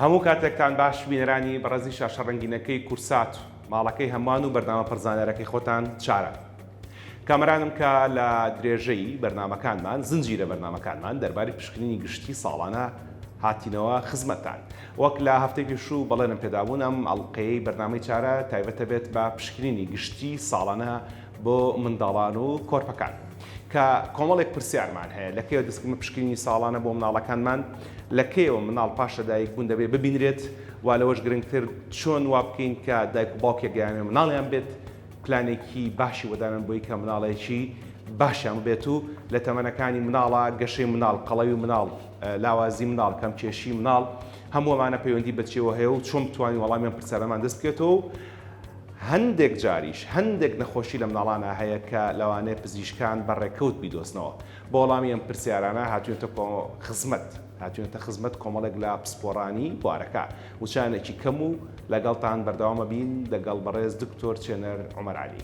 هەموو کاتێکتان باش بینەرانی بەڕێزی شاشە ڕەنگینەکەی کورسات و ماڵەکەی هەمان و بەرنامە پڕزانەرەکەی خۆتان چارە کامەرانم کە لە درێژەی بەرنمەکانمان زنجیرە بەرنمەکانمان دەرباری پشکنینی گشتی ساڵانە هاتینەوە خزمەتان وەک لە هەفتەی پێشوو بەڵێنم پێدابوون ئەم ئەڵقەیەی بەرنامەی چارە تایبەتەبێت بە پشکنینی گشتی ساڵانە بۆ منداڵان و کۆرپەکان کە کۆمەڵێک پرسیارمان هەیە لە کەیەوە دەستکرد بە پشکنینی ساڵانە بۆ مناڵەکانمان لە کەیەوە مناڵ پاش لە دایک بوون دەبێت ببینرێت وا لەوەش گرنگتر چۆن وا بکەین کە دایک و باوکێک گەیانێ مناڵیان بێت پلانێکی باشی وەدانن بۆی کە مناڵێکی باشیان بێت و لە تەمەنەکانی مناڵە گەشەی مناڵ قەڵەوی مناڵ لاوازی منداڵ، کەمکێشی منداڵ، هەموو ئەمانە پەیوەندی بە چیەوە هەیە و چۆن بتوانین وەڵامی ئەم پرسیارەمان دەست بکەوێتەوە و هەندێک جاریش هەندێک نەخۆشی لە منداڵانا هەیە کە لەوانەیە پزیشکان بە ڕێکەوت بیدۆزنەوە بۆ وەڵامی ئەم پرسیارانە هاتوێتە کۆ خزمەت هاتوێتە خزمەت کۆمەڵێک لە پسپۆڕانی بوارەکە وچانێکی کەم و لەگەڵتان بەردەوامە بین دەگەڵ بەڕێز دکتۆر چێنەر عومەر عەلی.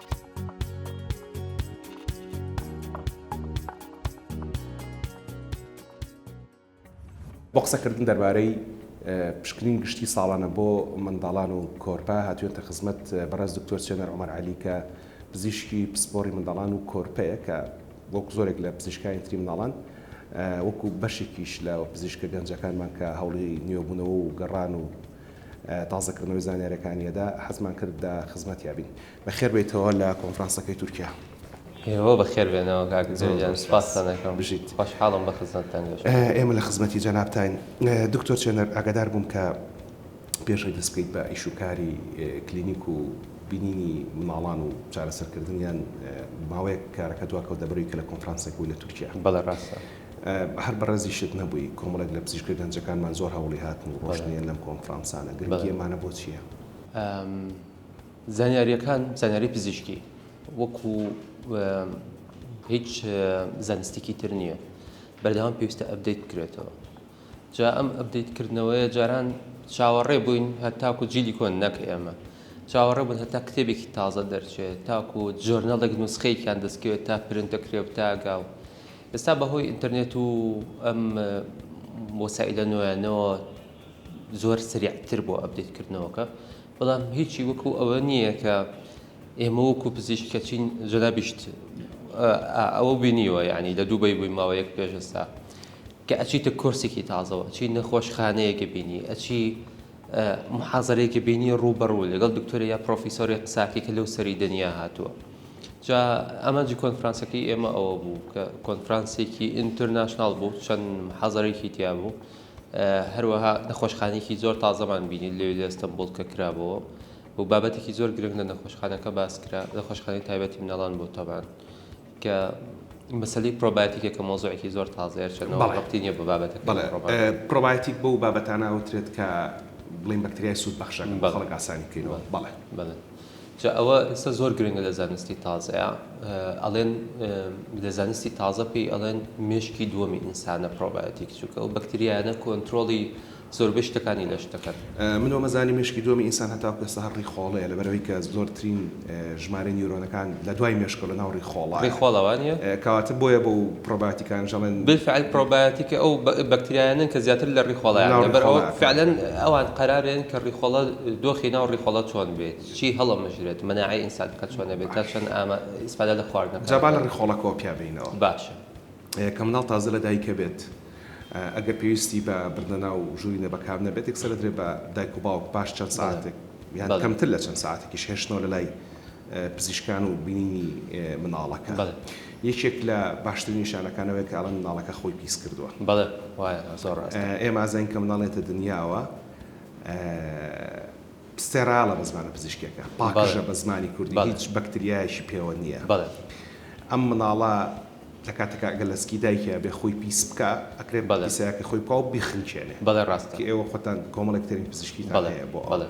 بۆ قسەکردن دەربارەی پشکنین گشتی ساڵانە بۆ منداڵان و کۆرپە هاتوێتە خزمەت بەڕێز دکتۆر چێنەر عمر علی کە پزیشکی پسپۆری منداڵان و کۆرپەیە کە وەک زۆرێک لە پزیشکانی تری مناڵان وەکو بەشێکیش لە پزیشکە گەنجەکانمان کە هەوڵی نوێبوونەوە و گەڕان و تازەکردنەوەی زانیارەکانیەدا حەزمان کرد دا خزمەتیابین. بەخێر بێیتەوە لە کۆنفرانسەکەی تورکیا. هەیەوە بەخێر بێنەوە کاک جەوی جان سوپاستان ئەکەم بژیت خۆشحاڵم بە خزمەتتان گەشتووم. ئێمە لە خزمەتی جەنابتاین دکتۆر چێنەر ئاگادار بووم کە پێشەوەی دەست بکەیت بە ئیش و کاری کلینیک و بینینی مناڵان و چارەسەر کردنیان ماوەیەک کارەکە دواکەوت لەبەرەوەی کە لە کۆنفرانسێک بووی لە تورکیا بەڵێ ڕاستە هەر بەڕێزیشت نەبووی کۆمەڵێک لە پزیشکە گەنجەکانمان زۆر هەوڵی هاتن و ڕۆشتنیان لەم کۆنفرانسانە گرنگی ئەمانە بۆ چییە؟ زانیارییەکان زانیاری پزیشکی وەکو هیچ زانستێکی تر نییە بەردەوام پێویستە ئەبدەیت بکرێتەوە جا ئەم ئەبدەیت کردنەوەیە جاران چاوەڕێ بووین هەتاکو جیلی کۆن نەک ئێمە چاوەڕێ بوون هەتا کتێبێکی تازە دەرچێت تاکو جۆرنەڵێک نوسخەیەکیان دەستکەوێت تا پرنتەکرێ و تاگاو ئێستا بەهۆی ئینتەرنێت و ئەم وەسائلە نوێنەوە زۆر سریعتر بۆ ئەبدیتکردنەوەکە بەڵام هیچی وەکو ئەوە نییە کە ئێمە وەکو پزیشکە چین جەنابیشت ئەوە بینیوە یعنی لە دووبەی بووی ماوەیەک پێشستا کە ئەچیتە کۆرسێکی تازەوە چی نەخۆشخانەیەکە بینی ئەچی محازرەیەکە بینی ڕووبەڕوو لەگەڵ دکتۆری یا پرۆفیسۆری قساکی کە لەو سەری دنیا هاتووە جا ئەمەجی کۆنفرانسەکەی ئێمە ئەوە بوو کە کۆنفرانسێکی ئینتەرناشنال بوو چەند حەزارێکی تیا بوو هەروەها نەخۆشخانەیەکی زۆر تازەمان بینی لەوێ لە ئەستەنبوڵ کە کرابەوە و بابەتێکی زۆر گرنگ لە نەخۆشخانەکە باس کرا نەخۆشخانەی تایبەتی مناڵان بۆ تەبان کە مەسلی پرۆباتیکە کە مۆزۆعێکی زۆر تازەیە چەندەوە ڕقتی نیە بە بابەتەکە پرۆباتیک بۆ بابەتانە ئەوترێت کە بڵین بەکتریای سوود بەخشەکە بە خەڵک ئاسانی بکەینەوە بەڵێ بەڵێ جا ئەوە ئێستا زۆر گرنگە لە زانستی تازەیا ئەڵێن لە زانستی تازە پێی ئەڵێن مێشکی دووەمی ئینسانە پرۆبایەتیک چووکە ئەو بەکتریایانە کۆنتترۆڵی زۆربەی شتەکانی لەش دەکەن من وەمەزانی مێشکی دووەمی ئینسان هەتاو پێستا هەر ڕیخۆڵەیە لەبەرەوەی کە زۆرترین ژمارەی نیورۆنەکان لە دوای مێشکەوە لە ناو ڕیخۆڵە ڕیخۆڵەوانە کەواتە بۆیە بۆ پرۆبایۆتیکەکان ژەڵێن. بالفعل پرۆبایۆتیکە ئەو بەکتریایانەن کە زیاتر لە ڕیخۆڵەیان لە بەر ئەوە فعلا ئەوان قەرارێن کە ڕیخۆڵە دۆخی ناو ڕیخۆڵە چۆن بێت چی هەڵەمژرێت مەناعەی ئینسان کە چۆنە بێت تا چەند ئامە ئیسفادە لە خواردنەکان جا با لە ڕیخۆڵە کۆ پیا بینەوە باشە. کە منداڵ تازە لە دایکە بێت ئەگەر پێویستی بە بردنە ناو ژووری نەبەکام نەبێت یەکسەر ئەدرێت بە دایک و باوک پاش چەند سەعاتێک یان کەمتر لە چەند سەعاتێکیش هێشتنەوە لە لای پزیشکان و بینینی منداڵەکە. بەڵێ. یەکێک لە باشترین نیشانەکان ئەوەیە کە ئەڵێن منداڵەکە خۆی پیس کردووە. بەڵێ وایە زۆر ڕاستە. ئێمە ئازاین کە منداڵ دێتە دنیاوە ستێرایڵە بە زمانە پزیشکیەکە، پاکژە بە زمانی کوردی هیچ بەکتریایەکی پێوە نییە. بەڵێ. ئەم منداڵە لە کاتێکا ئەگەر لە سکی دایکیا بێ خۆی پیس بکا ئەکرێ بەڵێ پیسایەکەی خۆی بکا و بیخنکێنێ بەڵێ ڕاستە کە ئێوە خۆتان کۆمەڵێک تەرین پزیشکیتان بەڵێ هەیە بۆ ئەوە بەڵێ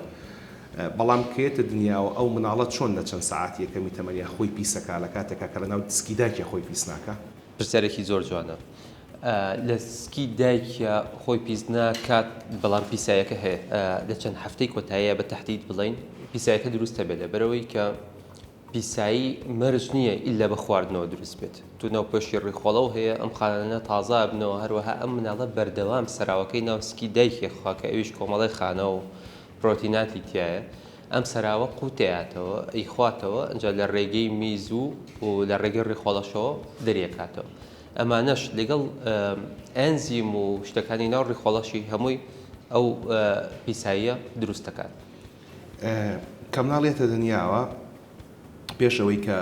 بەڵام کە یەتە دنیاوە ئەو مناڵە چۆن لە چەند سەعاتی یەکەمی تەمەنیا خۆی پیس ئەکا لە کاتێکا کە لە ناو سکی دایکیا خۆی پیس ناکا؟ پرسیارێکی زۆر جوانە لە سکی دایکیا خۆی پیس ناکات بەڵام پیسایەکە هەیە لە چەند هەفتەی کۆتاییا بە تەحدید بڵێین پیسایەکە دروست هەبێ لەبەرئەوەی کە پیسایی مەرج نییە ئیلا بە خواردنەوە دروست بێت، دوو ناوپۆشی ڕیخۆڵەو هەیە، ئەم خانانە تازە ئەبنەوە، هەروەها ئەم مناڵە بەردەوام سەراوەکەی ناو سکی دایکی ئەخوا کە ئەویش کۆمەڵێ خانە و پرۆتیناتی تیایە، ئەم سەراوە قووت ئەیاتەوە، ئەیخواتەوە، ئەنجا لە ڕێگەی میز و لە ڕێگەی ڕیخۆڵەشەوە دەریەکاتەوە، ئەمانەش لەگەڵ ئەنزیم و شتەکانی ناو ڕیخۆڵەشی هەمووی ئەو پیساییە دروست دەکات. کە مناڵ یەتە دنیاوە پێش ئەوەی کە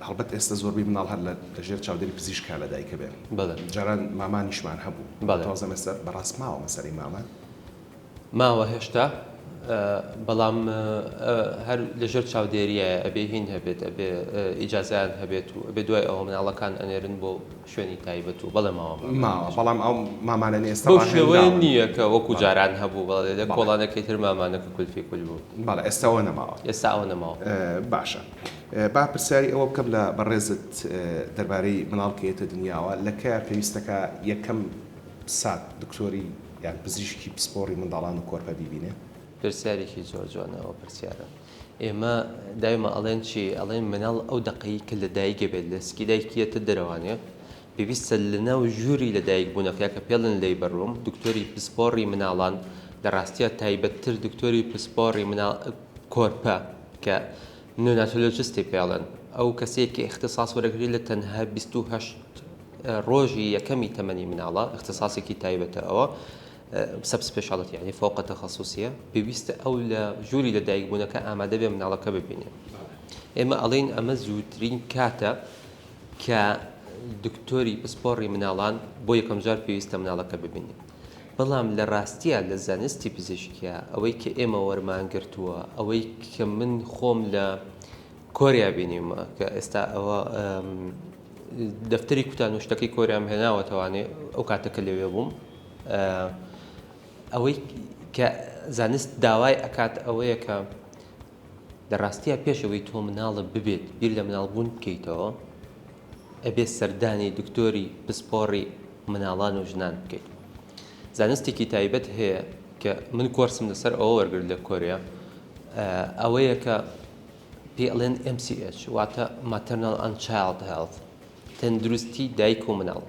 هەڵبەت ئێستا زۆربەی مناڵ هەر لە ژێر چاودێری پزیشکە لە دایکە بێن بەڵێ جاران مامانیشمان هەبوو بەڵێ تازە مەسەر بەڕاست ماوە مەسەری مامان ماوە هێشتا بەڵام هەر لە ژێر چاودێریە ئەبێ هین هەبێت ئەبێ ئیجازیان هەبێت و ئەبێ دوای ئەوە مناڵەکان ئەنێرن بۆ شوێنی تایبەت و بەڵێ ماوە مامانە. ماوە بەڵام ئەو مامانە ئێستا ڕاهێنراون. بەو شێوەیە نییە کە وەکو جاران هەبوو بەڵێ لە کۆڵانەکەی تر مامانە ککل فیکل بوو. بەڵێ ئێستا ئەوە نەماوە. ئێستا ئەوە نەماوە. باشە با پرسیاری ئەوە بکەم لە بەڕێزت دەربارەی مناڵ کە یەتە دنیاوە لە کەیە پێویستەکا یەکەم سات دکتۆری یان پزیشکی پسپۆڕی منداڵان و کۆرپە بیبینێ؟ پرسیارێکی زۆر جوانە ئەو پرسیارە. ئێمە دایمە ئەڵێن چی ئەڵێن مناڵ ئەو دەقەی کە لە دایک بێت لە سکی دایکیەتە دەرەوانێ پێویستە لە ناو ژووری لە دایک بوونەکە کە پێڵن لی بەڕووم دکتۆری پسپۆڕی مناڵان لە ڕاستە تایبەتتر دکتۆری پسپۆڕی مناڵ کۆرپە کە نوناتۆلۆجستی پێڵن ئەو کەسێکی اختصاص وەرەگری لە تەنها 28 ڕۆژی یەکەمی تەمەنی مناڵە اختصاصێکی تایبەتە ئەوە سەب سپێشاڵیتی یانی فەوقە تەخەسوسیە پێویستە ئەو لە ژووری لە دایکبوونەکە ئامادە بێ مناڵەکە ببینێ ئێمە ئەڵین ئەمە زووترین کاتە کە دکتۆری پسپۆڕی مناڵان بۆ یەکەم جار پێویستە مناڵەکە ببینێ بەڵام لە ڕاستیە لە زانستی پزیشکە ئەوەی کە ئێمە وەرمانگرتووە ئەوەی کە من خۆم لە کۆریا بینیمە کە ئێستا ئەوە دەفتەری کوتان و شتەکەی کۆریام هێناوە توانێ ئەو کاتەکە لەوێ بووم ئەوەی کە زانست داوای ئەکات ئەوەیە کە لە ڕاستیە پێشەوەی تۆ مناڵە ببێت بیر لە مناڵبوون بکەیتەوە ئەبێت سەردانی دکتۆری پسپۆڕی مناڵان و ژنان بکەیت زانستێکی تایبەت هەیە کە من کۆرسم لەسەر ئەوە وەرگر لە کۆریا ئەوەیە کە پێڵێن MCH واتە ماتەرناڵ ئەن چاڵد هێڵ تەندروستی دایک و مناڵ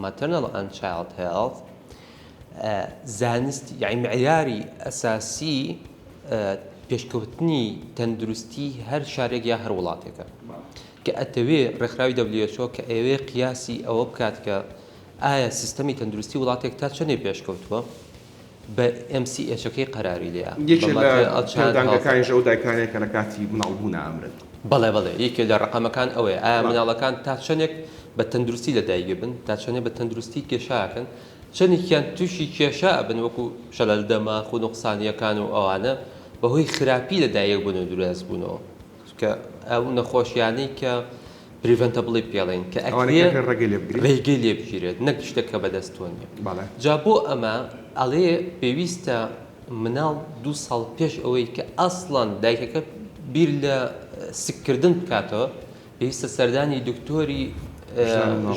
Maternal and Child Health، زانستی یانی معیاری ئەساسی پێشکەوتنی تەندروستی هەر شارێک یا هەر وڵاتێکە کە ئەتەوێ ڕێکخراوی WHO کە ئەوێ قیاسی ئەوە بکات کە ئایا سیستەمی تەندروستی وڵاتێک تا چەندێ پێشکەوتووە بە ئێم سی ئێچەکەی قەراری لێیە. یەکێ لە پێودانگەکانیش ئەو دایکانەیە کە لە کاتی منداڵ بوونا ئەمرن. بەڵێ بەڵێ یەکێ لە ڕەقەمەکان ئەوەیە ئایا منداڵەکان تا چەندێک بە تەندروستی لە دایک ئەبن تا چەندێ بە تەندروستی کێشا ئەکەن چەندێکیان تووشی کێشا ئەبن وەکو شەلەل دەماخ و نوقسانیەکان و ئەوانە بەهۆی خراپی لە دایک بوون و درێس بوونەوە کە ئەو نەخۆشیانەی کە پریڤەنتەبڵی پێڵێن کە ئەکرێ ڕێگەی لێ بگیرێت نەک شتێک کە بەدەست تۆ نیە جا بۆ ئەمە ئەڵێ پێویستە مناڵ دوو ساڵ پێش ئەوەی کە ئەسڵان دایکەکە بیر لە سککردن بکاتەوە پێویستە سەردانی دکتۆری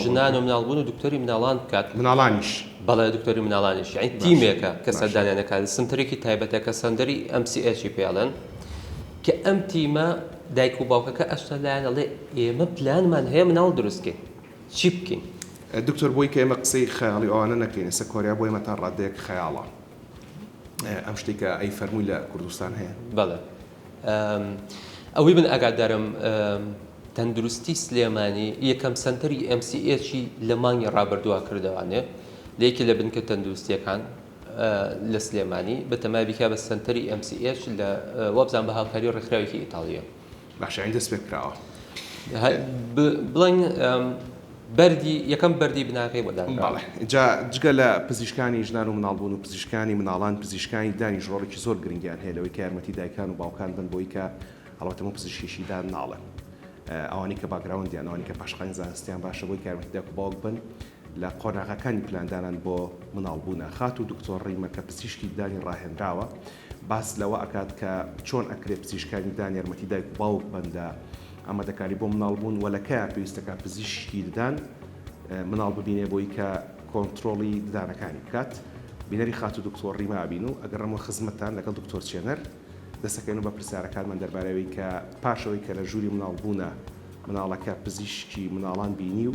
ژنان و مناڵبوون و دکتۆری مناڵان بکات مناڵانیش بەڵێ دکتۆری مناڵانیش یعنی تیمێکە کە سەردانیانەکان سنتەرێکی تایبەتە کە سەندەری ئەم سی ئەچی پێڵێن کە ئەم تیمە دایک و باوکەکە ئەچتە لایان ئەڵێ ئێمە پلانمان هەیە مناڵ دروست کەین چی بکەین؟ دکتۆر بۆی کە ئێمە قسەی خەیاڵی ئەوانە نەکەین ئێستا کۆریا بۆ ئێمە تا ڕادەیەک خەیاڵە ئەم شتەی کە ئەی فەرمووی لە کوردستان هەیە؟ بەڵێ ئەوەی من ئاگادارم تەندروستی سلێمانی یەکەم سەنتەری MCH لە مانگی ڕابردووا کردەوانێ لە یەکی لە بنکە تەندروستیەکان لە سلێمانی بەتەمای بکا بە سەنتەری ئێم سی ئێچ لە وابزان بە هاوکاری ڕێکخراوێکی ئیتاڵیە. باشە ئەی دەست پێ کراوە بڵێن بەری یەکەم بەری بناغی بۆ جا جگە لە پزیشکانی ژنان و مناڵبوون و پزیشکانی مناڵان پزیشکانی دانی ژۆڵێکی زۆر گرنگیان هەیە لەوەی کە یارمەتی دایکان و باوکان بن بۆی کە هەڵەتەمە پزیشکیشی دان ناڵێن ئەوانی کە باگراوندیان ئەوانی کە پاشقانی زانستیان باشە بۆی کارمەتی داکو باوک بن لە قۆناغەکانی پلاندانان بۆ منداڵبوونا، خاتوو دکتۆر ڕیمە کە پزیشکی ددانی ڕاهێنراوە، باس لەوە ئەکات کە چۆن ئەکرێ پزیشکانی ددان یارمەتی دایک و باوک بەن لە ئامادەکاری بۆ منداڵبوون و لە کەیان پێویستە کە پزیشکی ددان منداڵ ببینێ بۆی کە کۆنترۆڵی ددانەکانی بکات بینەری خاتوو دکتۆر ڕیمە ئەبین و ئەگەڕێمەوە خزمەتتان لەگەڵ دکتۆر چێنەر دەسەکەوێنە بە پرسیارەکانمان دەربارەی ئەوەی کە پاش ئەوەی کە لە ژووری منداڵبوونا منداڵەکە پزیشکی منداڵان بینی و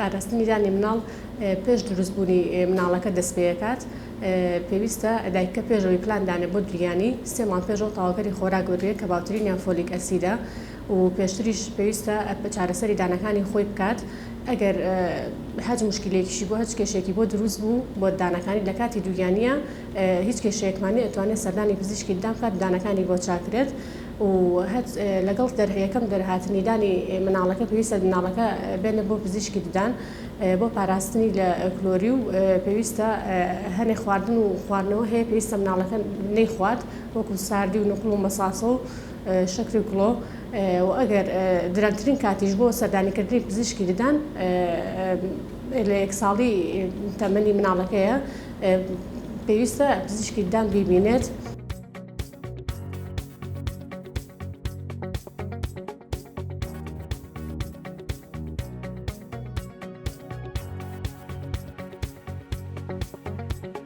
پاراستنی دانی مناڵ پێش دروستبوونی مناڵەکە دەست پێەکات پێویستە دایکە پێشەوەی پلاندانە بۆ دریانی سێمان پێشەوە تاواکەری خۆراک بگرێت کە باوترینیان فۆلیک ئەسیدە و پێشتریش پێویستە چارەسەری دانەکانی خۆی بکات ئەگەر هەچ مشکلەیەکیشی بۆ هەچ کێشێکی بۆ دروست بوو بۆ دانەکانی لە کاتی دووگیانە هیچ کێشەیەکمانی ئەتوانێت سەردانی پزیشکی ددان بکات دانەکانی بۆ چاکرێت و لەگەڵ دەرهەیەکەم دەرهاتنی دانی مناڵەکە پێویستە مناڵەکە بێنە بۆ پزیشکی ددان بۆ پاراستنی لە کلۆری و پێویستە هەنێ خواردن و خواردنەوە هەیە پێویستە مناڵەکە نەیخوات وەکو ساردی و نقل و مەساسە و شەکری کڵۆ، و ئەگەر درەنگترین کاتیش بۆ سەردانیکردنی پزیشکی ددان لە یەک ساڵی تەمەنی مناڵەکەیە، پێویستە پزیشکی ددان بیبینێت.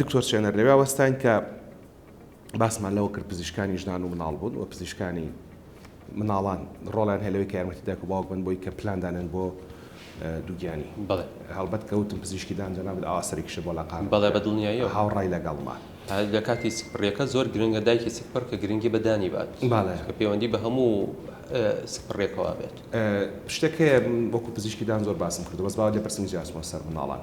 دکتۆر چێنەر لەوێ وەستاین کە باسمان لەوە کرد پزیشکانی ژنان و مناڵ بوون و پزیشکانی مناڵان ڕۆڵیان هەیە لەوەی کە یارمەتی دایک و باوک بن بۆی کە پلان دانێن بۆ دووگیانی بەڵێ هەڵبەت کەوتم پزیشکی دان جەنابت ئاوا سەرێکیشە بۆ لاقان بەڵێ بە دڵنیاییەوە هاوڕای لەگەڵمە لە کاتی سکپڕیەکە زۆر گرنگە دایکی سکپڕ کە گرنگی بە دانی بات بەڵێ کە پەیوەندی بە هەموو سکپڕێکەوە بێت شتێک هەیە وەکو پزیشکی دان زۆر باسم کردو بەس باوە لێپرسم جیاچمەوە سەر مناڵان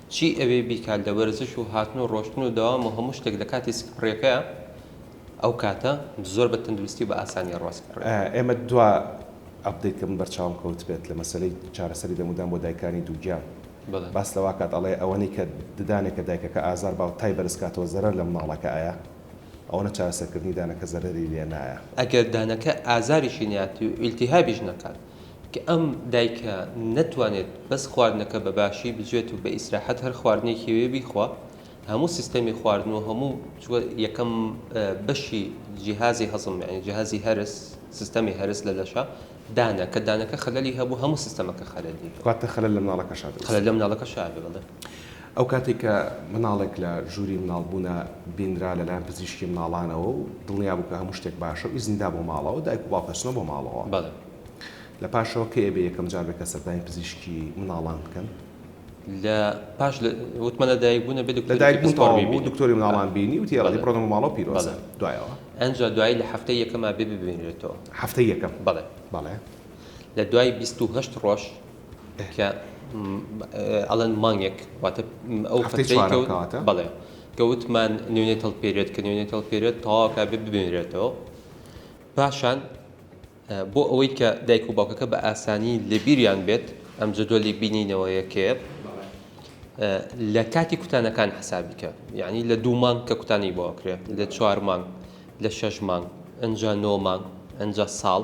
چی ئەوێ بیکات لە وەرزش و هاتن و ڕۆشتن و دەوام و هەموو شتێک لە کاتی سکپڕیەکەیا ئەو کاتە زۆر بە تەندروستی و بە ئاسانی ڕاسپڕێ. ئێمە دوا ئەپدەیت کە من بەرچاوم کەوتبێت لە مەسەلەی چارەسەری دەمودان بۆ دایکانی دووگیان باس لەوە ئەکات ئەڵێ ئەوەنەی کە ددانێک کە دایکەکە ئازار باو تای بەرز کاتەوە زەرەر لە مناڵەکە ئەیا ئەوەنە چارەسەرکردنی دانەکە زەرەری لێ نایە. ئەگەر دانەکە ئازاریشی نەیات و ئیلتیهابیش نەکات کە ئەم دایکە نەتوانێت بەس خواردنەکە بە باشی بجوێت و بە ئیسراحەت هەر خواردنێکی وێ بیخوا هەموو سیستەمی خواردن و هەموو یەکەم بەشی جیهازی هەزم یعنی جیهازی هەرس سیستەمی هەرس لە لەشە دانە کە دانەکە خەلەلی هەبوو هەموو سیستەمەکە خەلەلی واتە خەلەل لە مناڵەکەشا خەلەل لە مناڵەکەشا بڵێ ئەو کاتەی کە مناڵێک لە ژووری مناڵبوونە بینرا لەلایەن پزیشکی مناڵانەوە و دڵنیا بوو کە هەموو شتێک باشە و ئیزنی دا بۆ ماڵەوە، دایک و باوک ئەچنەوە بۆ ماڵەوە. بەڵێ. لە پاشەوە کەی ئەبێ یەکەم جار بێ کە سەردانی پزیشکی مناڵان بکەن؟ لە پاش لە وتمان لە دایکبوون ئەبێ دکتۆری دایک بوون پسپۆڕ تەواو بوو ببینێ. دکتۆری مناڵان بینی وتی ئێڵێ بەڵێ. بڕۆنە بۆ ماڵەوە پیرۆزە. بەڵێ. دوایەوە؟ ئەنجا دوایی لە هەفتەی یەکەما بێ ببینرێتەوە. هەفتەی یەکەم؟ بەڵێ. بەڵێ. لە دوای بیست و هەشت ڕۆژ کە ئەڵێن مانگێک واتە ئەو فترەیکەوتە بەڵێ کە وتمان نوێنێ تەڵ پێرێت کە نوێنێ تەڵ پێرێت تەواوکە بێ ببێنرێتەوە پاشان بۆ ئەوەی کە دایک و باوکەکە بە ئاسانی لەبیریان بێت ئەم جدۆلی بینینەوە یەکێ لە کاتی کوتانەکان حسابیکە یعنی لە دوو مانگ کە کوتانی بۆکرێت لە چوار مانگ لە شەش مانگ ئەجا نۆ مانگ ئەجا ساڵ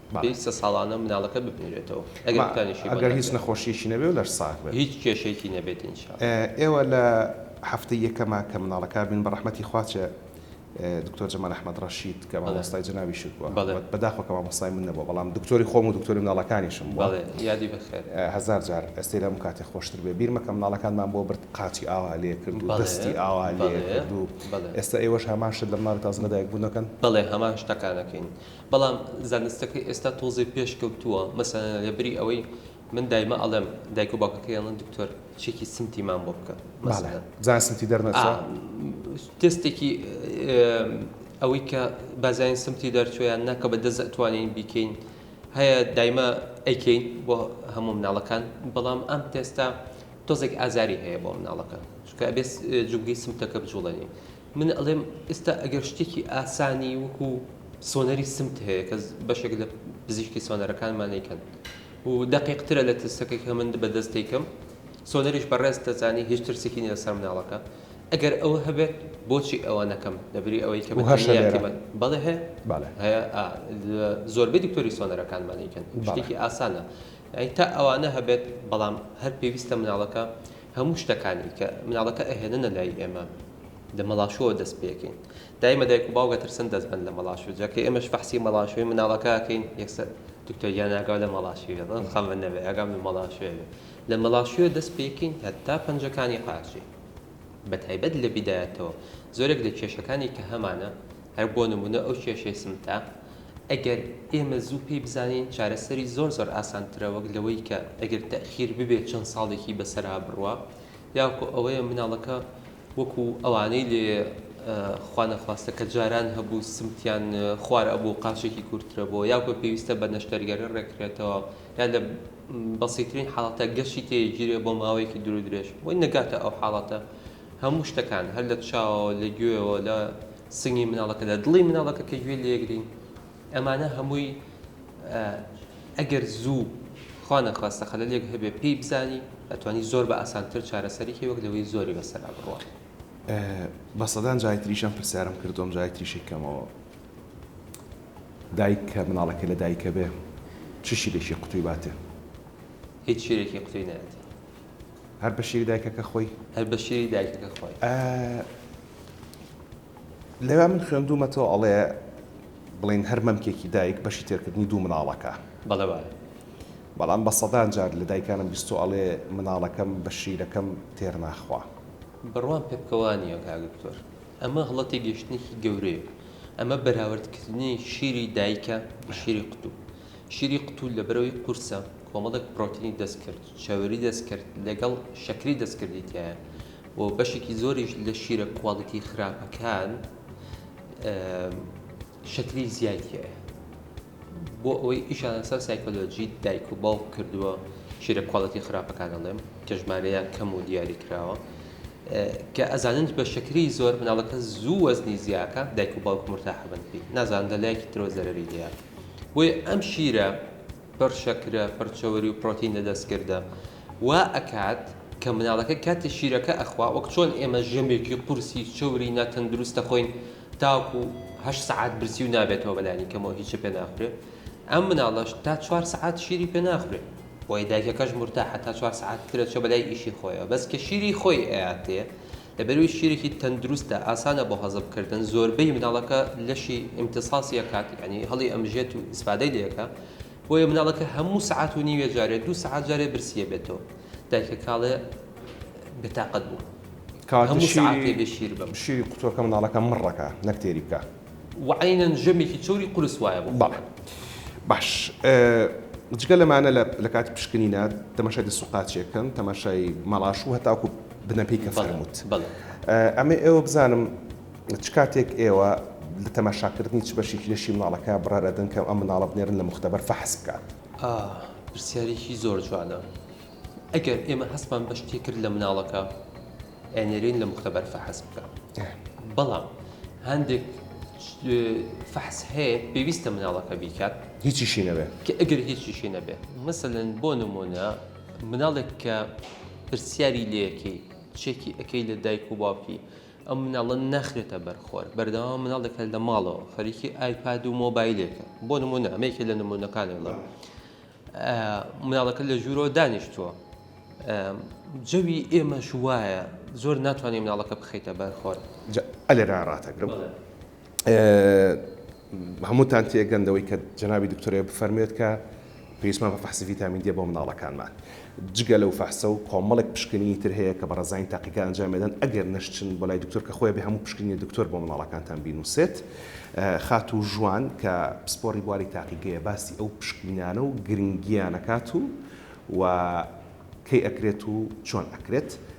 پێویستە سە ساڵانە مناڵەکە ببنرێتەوە ئەگەر دوکانێکی بۆ نەکرێت. ئەگەر هیچ نەخۆشیەکی نەبێت و لەش ساغ بێت. هیچ کێشەیەکی نەبێت ان شاء اللە. ئێوە لە هەفتەی یەکەما کە مناڵەکان بینن بە ڕەحمەتی خوا چ دکتۆر جمال احمد رشید کە مامۆستای جەنابیشت بووە بەڵێ. بەداخەوە کە مامۆستای من نەبووە بەڵام دکتۆری خۆم و دکتۆری مناڵەکانیشم بووە بەڵێ یادی بەخێر. هەزار جار ئەستێرە ئەم کاتێ خۆشتر بێ بیر مەکە مناڵەکانمان بۆ برد قاچی ئاوا لێ کرد و بەڵێ دەستی ئاوا لێ بەڵێ کرد و بەڵێ. ئێستا ئێوەش هەمان شت لە مناڵی تازە لەدایک بوون دەکەن؟ بەڵێ هەمان شتەکان ئەکەین. بەڵام زانستەکەی ئێستا تۆزێ پێش کەوتووە مەسەلەن لەبری ئەوەی من دایمە ئەڵێم دایک و باوکەکەی ئەڵێن دکتۆر چێکی سمتی مام بۆ بکە مەسەلەن بزانە سمتی دەرنەچوە تێستێکی ئەوەی کە بازانین سمتی دەرچویان ناکە بە دەست ئەتوانین بیکەین هەیە دایمە ئەیکەین بۆ هەموو مناڵەکان بەڵام ئەم تێستا تۆزێک ئازاری هەیە بۆ مناڵەکە چکە بێ جوگی سمتەکە بجوڵێنین من ئەڵێم ئیستا ئەگەر شتێکی ئاسانی وەکو سۆنەری سمت هەیە کە بەشێک لە پزیشکی سۆنەرەکانمان ئەیکەن و دەقیق ترە لە تستەکەی کە من بە دەست دەیکەم سۆنەریش بەڕێز دەزانی هیچ ترسێکی نیە لەسەر مناڵەکە ئەگەر ئەوە هەبێت بۆچی ئەوە نەکەم لەبری ئەوەی کە بە هەشە لێرە بەڵێ هەیە بەڵێ هەیە زۆربەی دکتۆری سۆنەرەکانمان ئەیکەن شتێکی ئاسانە ئەی تا ئەوانە هەبێت بەڵام هەر پێویستە مناڵەکە هەموو شتەکانی کە مناڵەکە ئەهێننە لای ئێمە لە مەڵاشۆوە دەست پێکەین دایمە دایک و باوک ئەترسن دەست بەن لە مەڵاشۆ جا کە ئێمەش فەحسی مەڵاشۆی مناڵەکە ئەکەین یەکسەر دکتۆر گیان ئاگاو لە مەڵاشیوە بەم خەمە نەبێ ئاگام لە مەڵاشۆیە بێ لە مەڵاشۆیە دەست پێکەین هەتا پەنجەکانی قاچی بە تایبەت لە بیدایەتەوە زۆرێک لە کێشەکانی کە هەمانە هەر بۆ نمونە ئەو کێشەی سمتە ئەگەر ئێمە زوو پێی بزانین چارەسەری زۆر زۆر ئاسانترە وەک لەوەی کە ئەگەر تەئخیر ببێت چەند ساڵێکی بەسەرا بڕوا یاکۆ ئەوەیە مناڵەکە وەکو ئەوانەی لێ خوا نەخواستە کە جاران هەبوو سمتیان خوار ئەبوو قاچێکی کورترە بۆ یاکۆ پێویستە بە نەشتەرگەرە ڕێکرێتەوە یا لە بەسیترین حاڵەتە گەشتی تێگیرێ بۆ ماوەیەکی درو درێژ بۆی نەگاتە ئەو حاڵەتە هەموو شتەکان، هەر لە چاوەوە، لە گوێیەوە، لە سنگی مناڵەکە، لە دڵی مناڵەکە کە گوێی لێگرین، ئەمانە هەمووی ئەگەر زوو خوانەخواستە خەلەلێک هەبێ پێی بزانی، ئەتوانی زۆر بە ئاسانتر چارەسەری کەی وەک لەوەی زۆری بەسەرا بڕوات. بە سەدان جاری تریش ئەم پرسیارەم کردووە، ئەم جاری تریشی کەمەوە. دایک کە مناڵەکەی لە دایکە بێ چ شیرێکی قوتووی باتێ؟ هیچ شیرێکی قوتووی نایەتێ. هەر بە شیری دایکەکە خۆی. هەر بە شیری دایکەکە خۆی. ئە لەوێ من خوێندوومەتەوە ئەڵێ بڵین هەر مەمکێکی دایک بەشی تێرکردنی دوو مناڵەکە. بەڵێ بەڵێ. بەڵام بە سەدان جار لە دایکانم بیستوە ئەڵێ مناڵەکەم بە شیرەکەم تێر ناخوا. بڕوام پێ بکە وا نییە کاک دکتۆر. ئەمە هەڵە تێگەیشتنێکی گەورەیە. ئەمە بەراوردکردنی شیری دایکە بە شیری قوتوو. شیری قوتو لە برەوی قورسە کۆمەڵێک پرۆتینی دەستکرد، چەوری دەستکرد لەگەڵ شەکری دەستکردی تیایە و بەشێکی زۆریش لە شیرە کواڵیتی خراپەکان شەکری زیای تیایە. بۆ ئەوەی ئیشان لەسەر سایکۆلۆجی دایک و باوک کردووە شیرە کواڵەتی خراپەکان ئەڵێم کە ژمارەیە کەم و دیاری کراوە کە ئەزانن بە شەکری زۆر مناڵەکە زوو وەزنی زیاکە دایک و باوک مرتاحبن پێی نازان لە لایەکی ترۆ زەرری هەیە. بۆیە ئەم شیرە پڕ شەکرە، پڕ چەوری و پرۆتینە دەستکردە وا ئەکات کە مناڵەکە کاتێ شیرەکە ئەخوا وەک چۆن ئێمە ژەمێکی قورسی چەوری ناتەندروست دەخۆین تاوەکو هەشت سەعات برسی و نابێتەوە بەلانی کەمەوە هیچ پێ ناخورێ ئەم مناڵەش تا چوار سەعات شیری پێ ناخورێ بۆیە دایکەکەش مورتاحە تا چوار سەعات ترەچە بەلای ئیشی خۆیەوە بەس کە شیری خۆی ئەیاتێ دەبەروی شیرێکی تەندروستە ئاسانە بۆ هەزم کردن زۆربەی مناڵەکە لەشی ئیمتصاصی ئەکات یانی هەڵی ئەمژێت و ئیسفادەی لێ ئەکا بۆیە مناڵەکە هەموو سەعات و نیوێ جارێ دوو سەعات جارێ برسی ئەبێتەوە دایکە کاڵێ بێتاقەت بوو کەواتە هەموو سەعاتێ شیری بێ شیر بم. شیری قوتوەکە مناڵەکە مڕ ئەکا نەک تێری بکا. وعەینەن ژەمێکی چەوری قورس وایە بۆ خۆی. بەڵێ باش جگە لەمانە لە کاتی پشکنینە تەماشای دەست و قاچێک کەن تەماشای مەڵاش و هەتاکو بنەپێی کە فەرمووت ئەمێ ئێوە بزانم چ کاتێک ئێوە لە تەماشاکردنی چ بەشێکی لەشی مناڵەکە بڕار ئەدەن کە ئەم مناڵە بنێرن لە موختەبەر فەحس بکات؟ ئا پرسیارێکی زۆر جوانە. ئەگەر ئێمە هەستمان بە شتێ کرد لە مناڵەکە ئەنێرین لە مختبەر فەحس بکە بەڵام هەندێک فەحس هەیە پێویستە مناڵەکە بیکات هیچیشی نەبێت کە ئەگەر هیچیشی نەبێت مثلەن بۆ نمونە مناڵێک کە پرسیاری لەکەی چێکی ئەەکەی لە دایک و باوکی ئەم مناڵە ناخرێتە بەرخۆر بەردەوام مناڵێکە لە ماڵەوە خەریکی ئایپاد و مۆبایلێکە بۆ نمونە ئەمەیکە لە نمونونەکانێڵە. مناڵەکە لە ژوورەوە دانیشتووە جەوی ئێمەش وایە زۆر ناتوانێت مناڵەکە بخیتە بەر خۆر ئەلێرا ڕاتەگرم هەمووتان تێگەندەوەی کە جەنابی دکتۆرێ بفەرمێت کە پێویستمان بە فەحسی ڤیتامین دی بۆ مناڵەکانمان جگە لەو فەحسە و کۆمەڵێک پشکنینی تر هەیە کە بەڕێزانی تاقیکار ئەنجامی ئەدەن ئەگەر نەشچن بۆ لای دکتۆر کە خۆی ئەبێ هەموو پشکنینی دکتۆر بۆ منداڵەکانتان بینووسێت خاتوو ژوان کە پسپۆڕی بواری تاقیگەیە باسی ئەو پشکنینانە و گرنگییان ئەکات و و کەی ئەکرێت و چۆن ئەکرێت.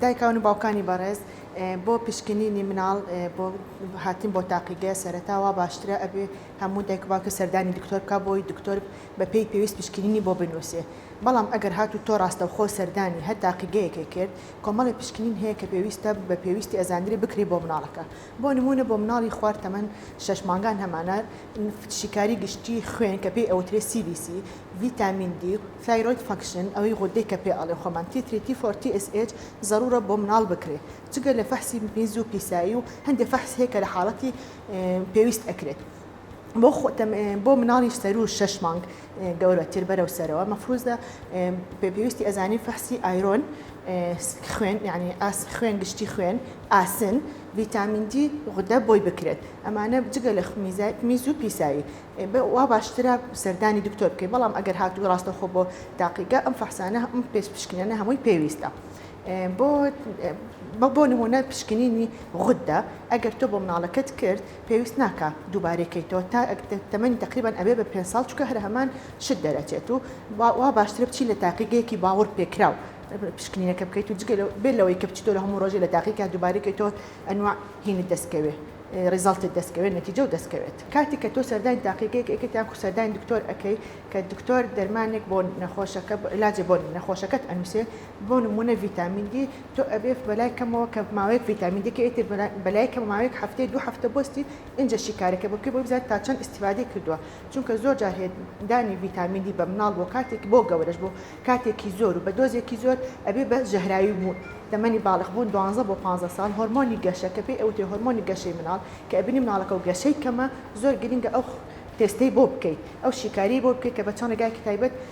دایکان و باوکانی بەڕێز بۆ پشکنینی مناڵ بۆ هاتن بۆ تاقیگە سەرتاوا باشترە ئەبێ هەموو دایک باکە سەردانی دکتۆر کا بۆی دکتۆر بەپی پێویست پشکنینی بۆ بنووسێ بەڵام ئەگەر هات و تۆ ڕاستەوخۆ سەردانی هەر تاقیگەیەکێ کرد کۆمەڵی پشکنین هەیە کە پێویستە بە پێویستی ئەزانری بکری بۆ مناڵەکە بۆ نموونە بۆ مناڵی خوار تەمەن شەش مانگان هەمانە شیکاری گشتی خوێن کە پێی ئەوترێ سی بی سی، ڤیتامین دی، ثایرۆید فەنکشن ئەوەی غودەی کە پێ ئەڵێ خۆمان تی تری تی فۆر تی ئێس ئێچ زەڕوڕە بۆ مناڵ بکرێ جگە لە فەحسی میز و پیسایی و هەندێ فەحس هەیە کە لە حاڵەتی پێویست ئەکرێت. بۆ خۆتم بۆ مناڵی سەرو شەش مانگ گەورەتر بەرەو سەرەوە مەفروزە پێویستی ئەزانی فەحسی ئایرۆن خوێن یعنی ئاس خوێن گشتی خوێن ئاسن ڤیتامین دی غودە بۆی بکرێت ئەمانە جگە لە خمیزات میز و پیسایی وا باشترە سەردانی دکتۆر بکەیت بەڵام ئەگەر هاتوو ڕاستەخۆ بۆ تاقیگە ئەم فەحسانە ئەم پێست پشکنەنە هەمووی پێویستە. بۆ بۆ نمونە پشکنینی غوددا ئەگەر تۆ بۆ مناڵەکەت کرد پێویست ناکا دووبارەی کەیتەوە تا تەمەنی تەقریبەن ئەبێ بە پێنج ساڵ چونکە هەر هەمان شت دەرەچێت و وا باشترە بچی لە تاقیگەیەکی باوەڕ پێکراو پشکنینەکە بکەیت و جگە بێ لەوەی کە بچیتۆ لە هەموو ڕۆژێ لە تاقیکە دووبارەی کەیتەوە ئەنوا هینت دەستکەوێ ڕیزالتت دەستکەوێت نەتیجە و دەستکەوێت کاتی کە تۆ سەردانی تاقیگەیەک ئەکەیت یان کو سەردانی دکتۆر ئەکەی کە دکتۆر دەرمانێک بۆ نەخۆشەکە علاجێ بۆ نەخۆشەکەت ئەنووسێ بۆ نموونە ڤیتامین دی تۆ ئەبێ بەلای کەمەوە کە ماوەیەک ڤیتامین دی کە ئیتر بەلای کەمە ماوەیەک هەفتەی دوو هەفتە بۆستی ئینجا شیکارەکە بکەی بۆی بزانی تا چەند ئیستیفادەی کردوە چونکە زۆر جار هەیە دانی ڤیتامین دی بە مناڵ بۆ کاتێک بۆ گەورەش بۆ کاتێکی زۆر و بە دۆزێکی زۆر ئەبێ بە ژەهراوی بوون تەمەنی باڵغ بوون دوانزە بۆ پانزە ساڵ هۆرمۆنی گەشە کە پێی ئەوترێ هۆرمۆنی گەشەی مناڵ کە ئەبینی مناڵەکەو گەشەی کەمە زۆر گرینگە ئەو تێستەی بۆ بکەی ئەو شیکاریەی بۆ بکەی کە بە چەند ڕێگایەکی تایبەت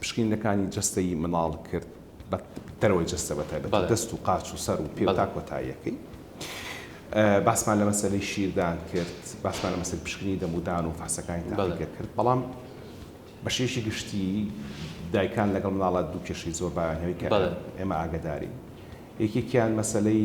پشکینەکانی جەستەی منداڵ کرد بە دەرەوەی جەستە بە تایبەت دەست و قاچ و سەر و پێ تا کۆتاییەکەی باسمان لە مەسەری شیردان کرد باسمان لە مەسەر پشکنی دەمودان و فاسەکانی تاڵگە کرد بەڵام بەشێکی گشتی دایکان لەگەڵ مناڵە دوو کێشەی زۆر بایانەوەی کە ئێمە ئاگداری یەکێکیان مەسلەی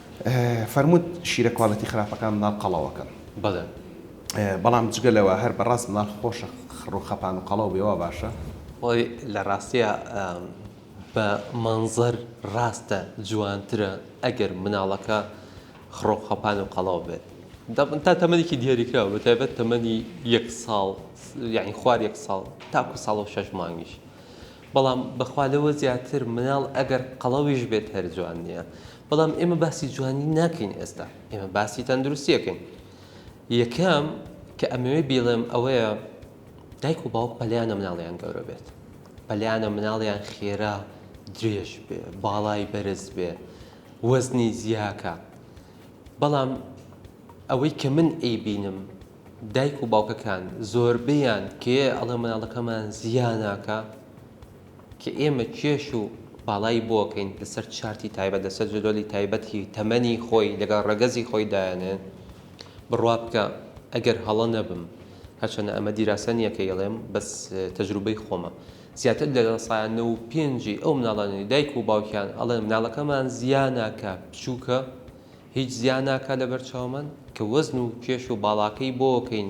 فەرمووت شیرە کوالێتی خراپەکان مناڵ قەڵەوەکەن. بەڵێ. بەڵام جگە لەوە هەر بەڕاست مناڵ خۆشە خڕ و خەپان و قەڵەو بێ وا باشە؟ وەی لە ڕاستیا بە مەنزەر ڕاستە جوانترە ئەگەر مناڵەکە خڕ و خەپان و قەڵەو بێت. تا تەمەنێکی دیاریکراو بە تایبەت تەمەنی یەک ساڵ یانی خوار یەک ساڵ تاکو ساڵ و شەش مانگیش. بەڵام بەخوا لەوە زیاتر مناڵ ئەگەر قەڵەویش بێت هەر جوان نییە. بەڵام ئێمە باسی جوانی ناکەین ئێستا ئێمە باسی تەندروستیەکەین یەکەم کە ئەمەوێ بیڵێم ئەوەیە دایک و باوک پەلیانە مناڵیان گەورە بێت پەلیانە مناڵیان خێرا درێژ بێ باڵای بەرز بێ وەزنی زیاکە بەڵام ئەوەی کە من ئەی بینم دایک و باوکەکان زۆربیان کێ ئەڵێ مناڵەکەمان زیانناکە کە ئێمە کێش و باڵای بۆکەین لەسەر چارتی تایبەت لەسەر جدۆلی تایبەتی تەمەنی خۆی لەگەڵ ڕەگەزی خۆی دایەنێ بڕوا بکە ئەگەر هەڵە نەبم هەرچەنە ئەمە دیراسە نییە کە یڵێم بەس تەجروبەی خۆمە زیاتر لە سایە نە و پێنجی ئەو مناڵانی دایک و باوکیان ئەڵێن مناڵەکەمان زیاناکە بچووکە هیچ زیاناکە لەبەر چاومان کە وەزن و کێش و باڵاکەی بۆکەین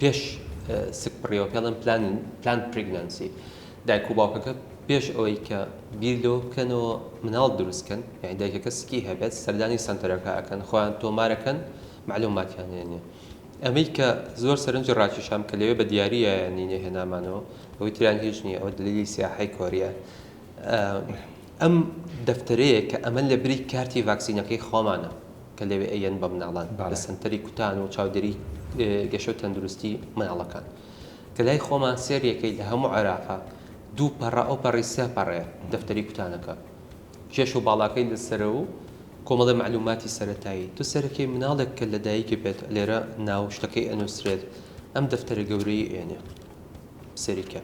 پێش سکپڕیەوە پێ ڵێن پلان پرگنەنسی دایک و باوکەکە پێش ئەوەی کە بیر لەوە بکەنەوە مناڵ دروستکەن یعنی دایکەکە سکی هەبێت سەردانی سنتەرەکە ئەکەن خۆیان تۆمارەکەن معلوماتیان هێنێ ئەمەی کە زۆر سەرنجی ڕاکیشام کە لەوێ بە دیارە نینە هێنامانەوە ئەوەی تریان هیچ نییە ئەوە دلیلی سیاحی کۆریە ئەم دەفتەرەیە کە ئەمە لە بری کارتی ڤاکسینەکەی خۆمانە کە لەوێ ئەیەن بە مناڵان لە سەنتەری کوتان و چاودێری گەشە و تەندروستی مناڵەکان کە لای خۆمان سێریەکەی لە هەموو عێراقا دوو پەڕە ئەو پەڕی سێ پەڕێ دەفتەری کوتانەکە کێش و باڵاکەی لەسەر و کۆمەڵی معلوماتی سەرەتایی تو سەرەکەی مناڵێک کە لە دایکی بێت لێرە ناو شتەکەی ئەنووسرێت ئەم دەفتەرە گەورەی ئێنێ سەیریکە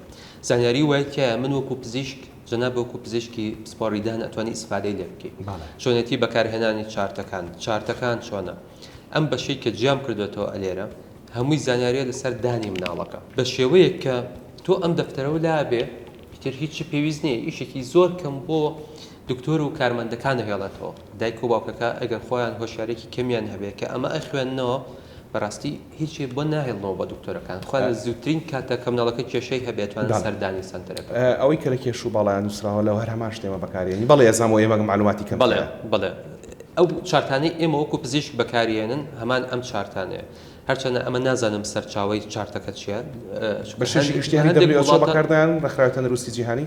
زانیاری وای تایە من وەکو پزیشک جەناب وەکو پزیشکی پسپۆڕیدان ئەتوانی ئیسفادەی لێ بکەیت چۆنێتی بەکارهێنانی چارتەکان چارتەکان چۆنە ئەم بەشەی کە جیام کردوێتەوە ئەلێرە هەمووی زانیاریە لەسەر دانی مناڵەکە بە شێوەیەک کە تۆ ئەم دەفتەرەوە لابێ تر هیچی پێویست نییە ئیشێکی زۆر کەم بۆ دکتۆر و کارمەندەکانە هێڵێتەوە دایک و باوکەکە ئەگەر خۆیان هۆشیارێکی کەمیان هەبێ کە ئەمە ئەخوێننەوە بەراستی هیچێ بۆ ناهێڵنەوە بە دکتۆرەکان خۆیان لە زوترین کاتدا کە مناڵەکە کێشەی هەبێ توانن سەردانی سەنتەرەکە بکەن. ئەوەی کە لە کێش و باڵایان نوسراوە لە هەر هەمان شتێمە بەکاریێنی بەڵێ ئێزان بۆ ئێمە مەعلوماتی کەم بەڵێ بەڵێ ئەو چارتانەی ئێمە وەکو پزیشک بەکاریێنن هەمان ئەم چارتانەیە هەرچەنە ئەمە نازانم سەرچاوەی چارتەکە چیە بەشێکی گشتیانی دەبلی ئۆچۆ بەکاردەیانن ڕێکخراوی تەندروستی جیهانی.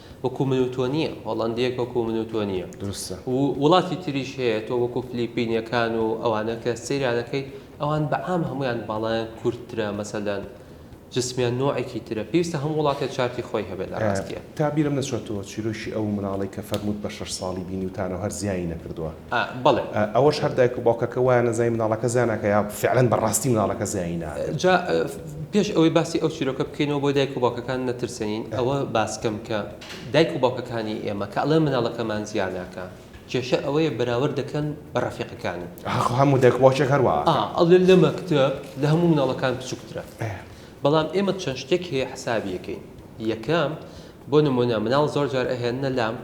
وەکو من و تۆ نییە، هۆڵەندییەک وەکو من و تۆ نییە. دروستە. و وڵاتی تریش هەیە، تۆ وەکو فلیپینییەکان و ئەوانە کە سەیریان دەکەیت، ئەوان بە عام هەموویان باڵایان کورتترە، مەسەلەن جسمیان نۆعێکی ترە. پێویستە هەموو وڵاتێ چارتی خۆی هەبێت لە ڕاستییا. تا بیرم نەچۆتەوە چیرۆکی ئەو مناڵەی کە فەرمووت بە شەش ساڵی بینیوتانەو هەر زیایی نەکردووە. ئا بەڵێ. ئەوەش هەر دایک و باوکەکە وایانە زای مناڵەکە زیا ناکا یا فعلەن بە ڕاستی مناڵەکە زیایی ناکەن. جا پێش ئەوەی باسی ئەو چیرۆکە بکەینەوە بۆ دایک و باوکەکان نەترسێین ئەوە باس کەم کە دایک و باوکەکانی ئێمە کە ئەڵێن مناڵەکەمان زیا ناکا کێشە ئەوەیە بەراورد دەکەن بە ڕەفیقەکانی. ئەها خۆ هەموو دایک و باوکێک هەر وا ئا ئەکەن. ئەڵێن لە مەکتەب لە هەموو مناڵەکان بچوکترە. ئەه. بەڵام ئێمە چەند شتێک هەیە حسابی ئەکەین یەکەم بۆ نمونە مناڵ زۆر جار ئەهێننە لام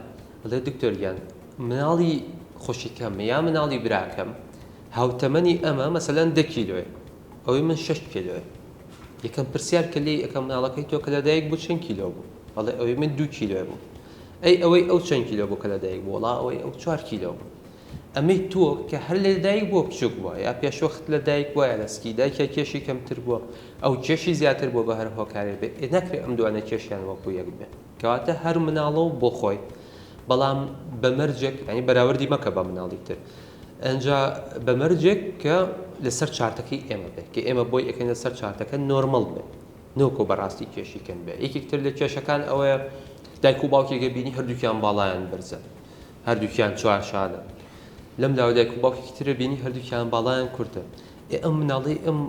دەڵێ دکتۆر گیان مناڵی خوشکەم یا مناڵی براکەم هاوتەمەنی ئەمە مەسەلەن دە کیلۆێ ئەوەی من شش کیلۆێ یەکەم پرسیار کە لێی ئەەکەم مناڵەکەی تۆ کە لەدایک بوو چەند کیلۆ بوو بەڵێ ئەوەی من دوو کیلۆێ بوو ئەی ئەوەی ئەو چەند کیلۆ بوو کە لەدایک بوو وڵا ئەوەی ئەو چوار کیلۆ بوو ئەمەی تۆ کە هەر لە دایک بۆ بچووک بووە یا پێشوەخت لە دایک وایە لە سکی دایکە کێشی کەمتر بووە ئەو کێشی زیاتر بۆ بە هەر هۆکارێ بێ ناکرێت ئەم دوانە کێشیان وەکو یەک بێ کەواتە هەر مناڵە و بۆ خۆی بەڵام بە مەرجێک یانی بەراوردی مەکە بە مناڵی تر ئەجا بە مەرجێک کە لەسەر چارتەکەی ئێمە بێت کە ئێمە بۆی ئەەکەن لەسەر چارتەکە نۆرمەڵ بێت نۆکۆ بەڕاستی کێشی کەم بێت یەکێکتر لە کێشەکان ئەوەیە دایک و باوکێگە بینی هەردووکیان باڵایان بەرزە هەردووکیان چوار شانە لەم لاوە دایک و باوکێکی ترە بینی هەردووکیان باڵایان کورتە ئێ ئەم مناڵەی ئەم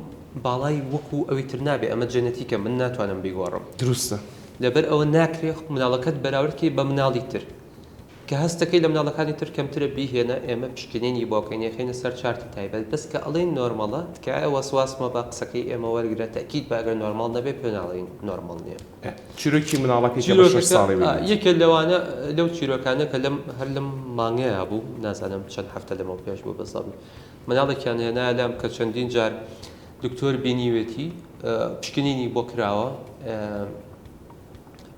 باڵای وەکو ئەوی تر نابێ ئەمە جەنەتیکە من ناتوانم بیگۆڕم دروستە لەبەر ئەوە ناکرێ مناڵەکەت بەراورد کەی بە مناڵی تر کە هەستەکەی لە مناڵەکانی تر کەمترە بیهێنە ئێمە پشکنینی بۆ کەین یەخەینە سەر چارتی تایبەت بەس کە ئەڵێین نۆرماڵە تکایە وەسواس مەبە قسەکەی ئێمە وەرگرە تەئکید بە ئەگەر نۆرماڵ نەبێ پێ ناڵێین نۆرماڵ نیە. چیرۆکی مناڵەکەی کە بە شەش ساڵی بوو. چیرۆکەکە یەکێ لەوانە لەو چیرۆکانە کە لەم هەر لەم مانگەیا بوو نازانم چەند هەفتە لەمەو پێش بوو بەزەم مناڵێکیان هێنایە لام کە چەندین جار دکتۆر بینیوێتی پشکنینی بۆ کراوە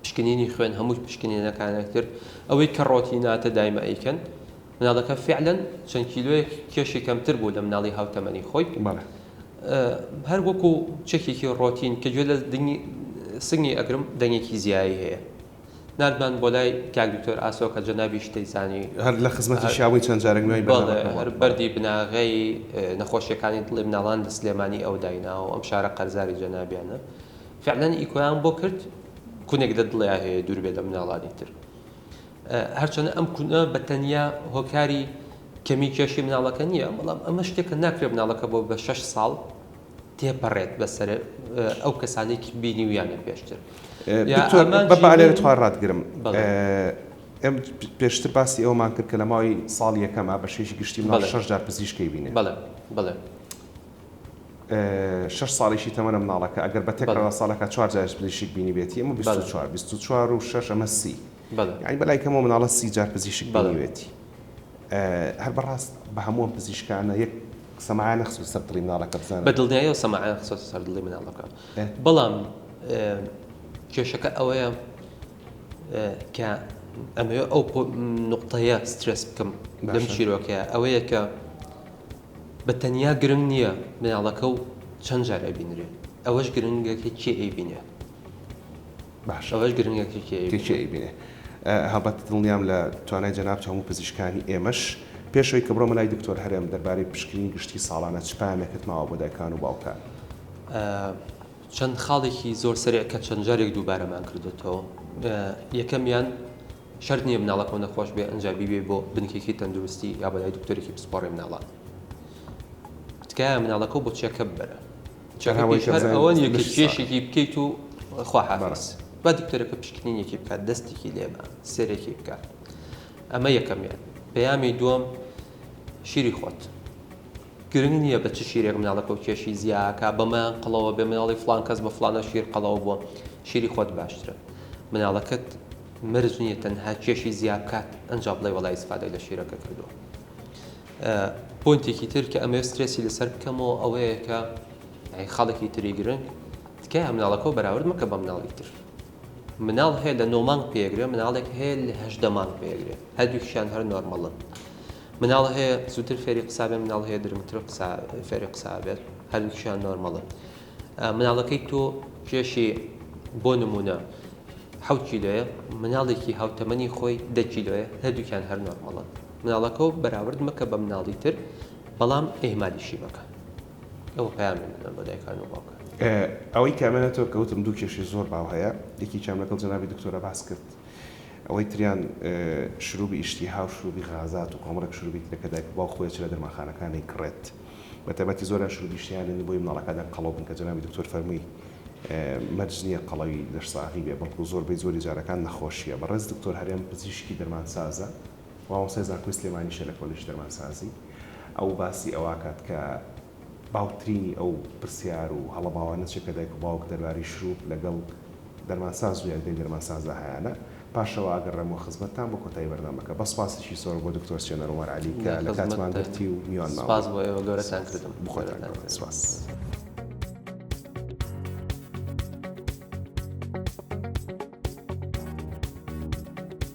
پشکنینی خوێن هەموو پشکنینەکانە کرد ئەوەی کە ڕۆتیناتە دایمە ئەیکەن مناڵەکە فیعلەن چەند کیلۆیەک کێشی کەمتر بوو لە مناڵی هاوتەمەنی خۆی. بەڵێ. هەر وەکو چەکێکی ڕۆتین کە گوێ لە دنگی سنگی ئەگرم دەنگێکی زیایی هەیە. ناردمان بۆ لای کاک دکتۆر ئاسۆ کە جەنابیش دەیزانی. هەر لە خزمەتیشا بووین چەند جارێک نوێی بەرنامەکە بڵاو کرد. بەڵێ. هەر بەردی بناغەی نەخۆشیەکانی دڵی مناڵان لە سلێمانی ئەو دایناوە. ئەم شارە قەرزاری جەنابیانە. فیعلەن ئیکۆیان بۆ کرد کونێک لە دڵیا هەیە دوور بێ لە مناڵانی تر. هەرچەندە ئەم کونە بە تەنیا هۆکاری کەمی کێشی مناڵەکە نییە، بەڵام ئەمە شتێکە ناکرێت مناڵەکە بۆ بە شەش ساڵ تێپەڕێت بەسەر ئەو کەسانەی بینیویانە پێشتر. دکتۆر من بە پەلە لە تۆی ڕاتگرم. ئێم پێشتر باسی ئەوەمان کرد کە لە ماوەی ساڵی یەکەما بە شێوەیەکی گشتی مناڵ شەش جار پزیشکی بینێ. بەڵێ بەڵێ. شەش ساڵیشی تەمەنە مناڵەکە ئەگەر بە تێکرا ساڵەکە چوار جار پزیشک بینیبێتی ئەمە بیست و چوار بیست و چوار و شەش ئەمە سی. بەڵێ. یانی بەلای کەمەوە مناڵە سی جار پزیشک بینیوێتی. بەڵێ. هەر بەڕاست بە هەموو ئەم پزیشکانە یەک سەماعە نەخستۆتە سەر دڵی مناڵەکە بزانە. بە دڵنیایەوە سەماعە نەخستۆتە سەر دڵی مناڵەکە. بەڵام کێشەکە ئەوەیە کە ئەمەوێ ئەو نوقتەیە سترێس بکەم لەم چیرۆکەیە ئەوەیە کە بە تەنیا گرنگ نییە مناڵەکە و چەند جار ئەبینرێ ئەوەش گرنگە کە کێ ئەیبینێ. باشە ئەوەش گرنگە کێ کێ ئەیبینێ. کێ کێ ئەیبینێ هەڵبەت دڵنیام لە توانای جەنابت هەموو پزیشکانی ئێمەش پێش ئەوەی کە بڕۆمە لای دکتۆر هەرێم دەربارەی پشکنینی گشتی ساڵانە چ پەیامێکت ماوە بۆ دایکان و باوکان؟ چەند خاڵێکی زۆر سەریع کە چەند جارێک دووبارەمان کردۆتەوە یەکەمیان شەرت نییە مناڵەکەم نەخۆش بێ ئەنجا بیبێ بۆ بنکێکی تەندروستی یا بەلای دکتۆرێکی پسپۆڕی مناڵان تکایە مناڵەکە بۆ چێکە ببەرە چەنها وەی کەم زانی ئەوەنیە کە کێشێکی بکەیت و خواحافیز با دکتۆرەکە پشکنینێکی بکات دەستێکی لێبە سێرێکی بکات ئەمە یەکەمیان پەیامی دووەم شیری خۆت گرنگ نییە بە چ شیرێک مناڵەکە و کێشی زیاکە بەمەیان قڵەوە بێ مناڵی فلان کەس بە فلانە شیر قەڵەوە بووە شیری خۆت باشترە مناڵەکەت مرج نییە تەنها کێشی زیابکات ئەنج بڵێ وڵی سفادە لە شیرەکە کردووە پۆینتێکی تر کە ئەمەوێت سترێسی لەسەر بکەمەوە ئەوەیە کە خاڵێکی تری گرنگ تکایە مناڵەکەەوە بەراورد مەکە بە مناڵی تر مناڵ هەیە لە نۆمانگ پێگرێ مناڵێک هەیە لە هەشدە مانگ پێگرێ هەردووکیشان هەر نۆرمەڵن مناڵ هەیە زووتر فێری قسابێ مناڵ هەیە درمتر فێری قسابێت هەردووکیشان نۆرمەڵن مناڵەکەی تۆ کێشی بۆ نمونە حەوت کیلۆیە مناڵێکی هاوتەمەنی خۆی دە کیلۆیە هەردووکیان هەر نۆرمەڵن مناڵەکەو بەراورد مەکە بە مناڵی تر بەڵام ئێهمالیشی مەکە ئەوە پەیامێ منە بۆ دایکان و باوکان. ئەوەی کە ئەمێنێ تۆ کە وتم دوو کێشەی زۆر باو هەیە یەکێکیان لەگەڵ جەنابی دکتۆرە باس کرد ئەوەی تریان شروبی ئیشتیها و شروبی غازات و کۆمەڵێک شروبی ترە کە دایک و باوک خۆی ئەچێ لە دەرمانخانەکان ئەیکڕێت بە تایبەتی زۆریان شروبی ئیشتیهایان دێنن بۆی مناڵەکان لێم قەڵەو بن کە جەنابی دکتۆر فەرمووی مەرج نییە قەڵەوی لەش ساغی بێ بەڵکو زۆربەی زۆری جارەکان نەخۆشییە بەڕێز دکتۆر هەرێم پزیشکی دەرمانسازە مامۆستای زانکۆی سلێمانیشە لە کۆلێژی دەرمانسازی ئەو باسی ئەوەکات کە باوترینی ئەو پرسیار و هەڵە باوانە چێ کە دایک و باوک دەرباری شروپ لەگەڵ دەرمانساز و یاریدەی دەرمانسازدا هەیانە پاشەوە ئاگەڕێمەوە خزمەتتان بۆ کۆتایی بەرنامەکە بە سپاسێکی زۆر بۆ دکتۆر سیێنەر عومەر عەلی کە لە کاتمان گرتی و میوان ماوە سپاس بۆ ئێوە گەورەتان کردم بخۆتان گەورەتان سپاس.